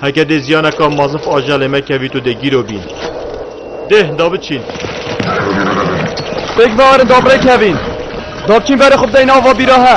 Heke dê ziyaneka mazif aja lê me kevî tu dê gîro bîn. Deh da biçîn. Pêk vearin da birê kevîn. Da biçîn verê xwe bideyîn ava bîra he.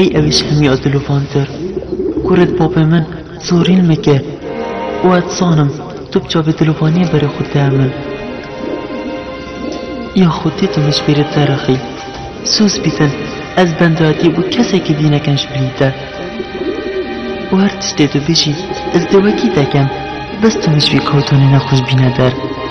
Ey ewîş hemî a diluvantir. Kuret bapê min zorîn mike û ez zanim tu bi çavê dilovaniyê berê xwe diye min. Ya xwedî tu min ji bîrê derixî. Sûz bîtin ez benda dî û kesekî dî nekin ji bilî te. Û her tiştê tu bijî ez dê wekî te kem. Bes tu min ji vî kawtonê nexweş bîne der.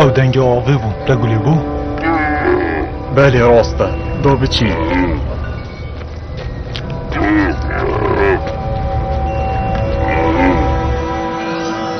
Ew dengê avê bû, te gulê bû? Belê rast e, da biçî.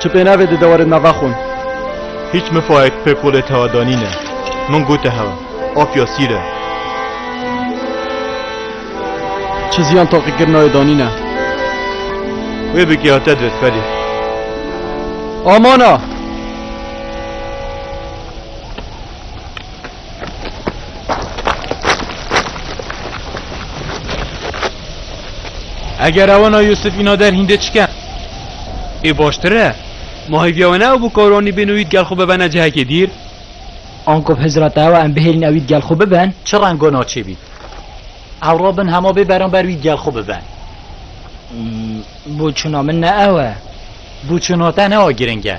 Çi pênavê di dewarê nava xwe. Hiç mifayek pê kolê tewa danîne. Min gote hewa. Apya sîr e. Çi ziyan taqîkirina wê danîne. Wê bigiya te dir felî. Amana! Eger ewana Yusuf îna der hîndê çike? Ê baştir e. Ma hêviya we ne ew bû ka Ronî bên û wî di gel xwe bibene cihekê dîr. Anko bi hizira te ew e em bihêlin ew wî di gel xwe bibin. Çi reng û naçê bîn. Ew re bin hema bê beramber wî di gel xwe bibin. Bûçûna min ne ew e. Bûçûna te ne a giring e.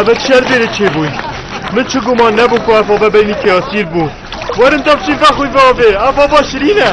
Ebe çi şer bêrê çêbûyî. Min çi guman nebû ku ev bave beynî kê esîr bû. Werin tevçîn vexwî bavê. Ev bava şirîn e.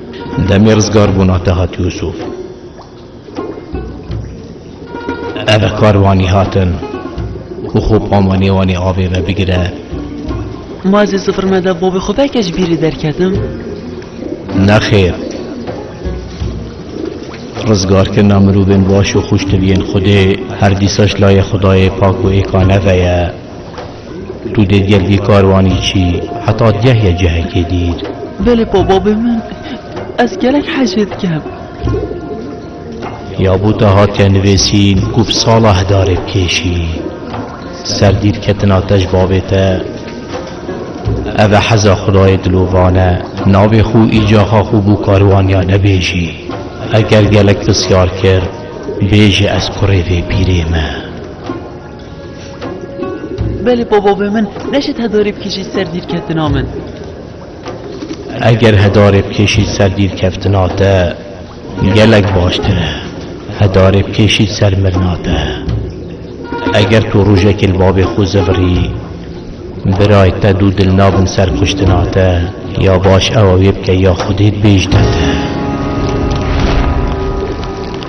Demê rizgarbûna te hat Yûsûf. Eve karvanî hatin û xwe pa manê wan ê avê ve bigire. Ma zî sifir me de bavê xwe belkê ji bîrî derketim. Nexêr. Rizgarkirina mirovên baş û xwişt diviyên Xwedê her dîsa ji layê Xwedayê pak û êkaneve ye. Tu dê gel vî karwanî çî heta ceh ye cehekê dîr. Belê bababê min ez gelek hecê dikem. Ya bû te hatiye nivêsîn ku bi sala hidarê bikêşî. Ser dîr ketin ateş babê te. Ev e heza xudayê dilovan e. Navê xwe û îcaxa xwe bû karwaniya nebêjî. Eger gelek pirsyar kir bêje ez kurê vê pîrê me. Belê bavavê min neşet hedarê bikêşî ser dîrketina min. Eger hedarê bikêşî ser dîrkeftina te gelek baştir e. Hedarê bikêşî ser mirina te. Eger tu rojekê li bavê xwe zivirî birayê te dû dil nabin ser kuştina te ya baş ew wê bike ya xwedê dibêjne te.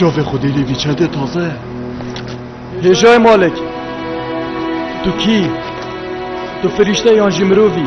Çavê xwedê lê vî çendê taze ye. Hêjay Malek. Tu kî? Tu firîşte yan jî mirovî?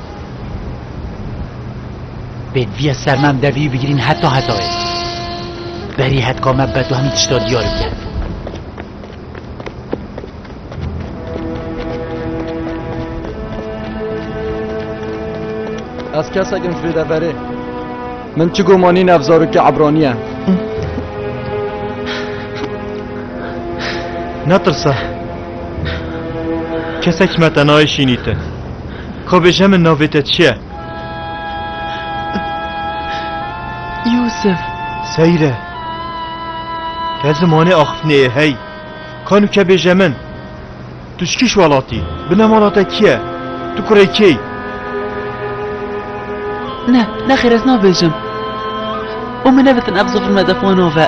Pêdiviya sermam devî bigirîn heta hetayê. Berî hetka me beto hemî tişta diyar bike. Ez kesekim ji vê de verê. Min çi gomanî ne ev zarokê Ebranî ye. Netirse. Kesek me te nayê şînî te. Xwe bêje min navê te çi ye? Yûsif. Seyre. Te zimanê axiftinê yê hey. Kan û ke bêje min. Tu ji kîş welatî? Bine mala te kî ye? Tu kurê kê yî? Ne, nexêr ez nabêjim. Û min nevitin ev zifir me def wan ave.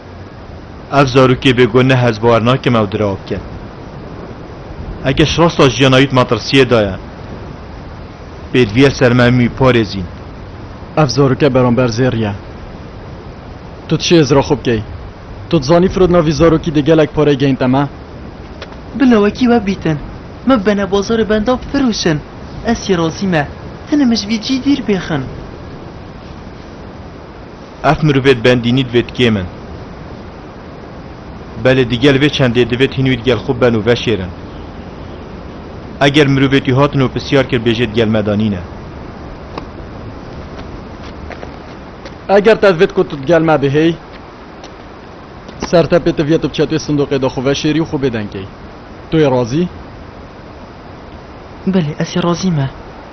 Ev zarokê bêguh ne hezbawar nakim ew diraw bike. Eke ji rasta jiyana wî di metirsiyê de ye, pêdiviya ser me hemû wî parêzîn. Ev zaroke beramber zêr ye. Tu dişê ez ra xwe bikey. Tu dizanî firodina vî zarokî dê gelek pareyê geyinte me? Bila wekî we bîtin. Me bibene bazarê bendav firoşin. Ez jî razî me. Hinim ji vî cî dîr bêxin. Ev mirivê di bendînî divê di kêm in. Belê di gel vê çendê divê di hîn wî di gel xwe ben û veşêrin. Eger mirivê tî hatin û pisyar kir bêjê di gel me de nîne. Eger te divê ku tu di gel me de hêy, sertepê te viye tu bi çetê sindoqê de xwe veşêrî û xwe bêdeng key. Tu yê razî? Belê, ez yê razî me.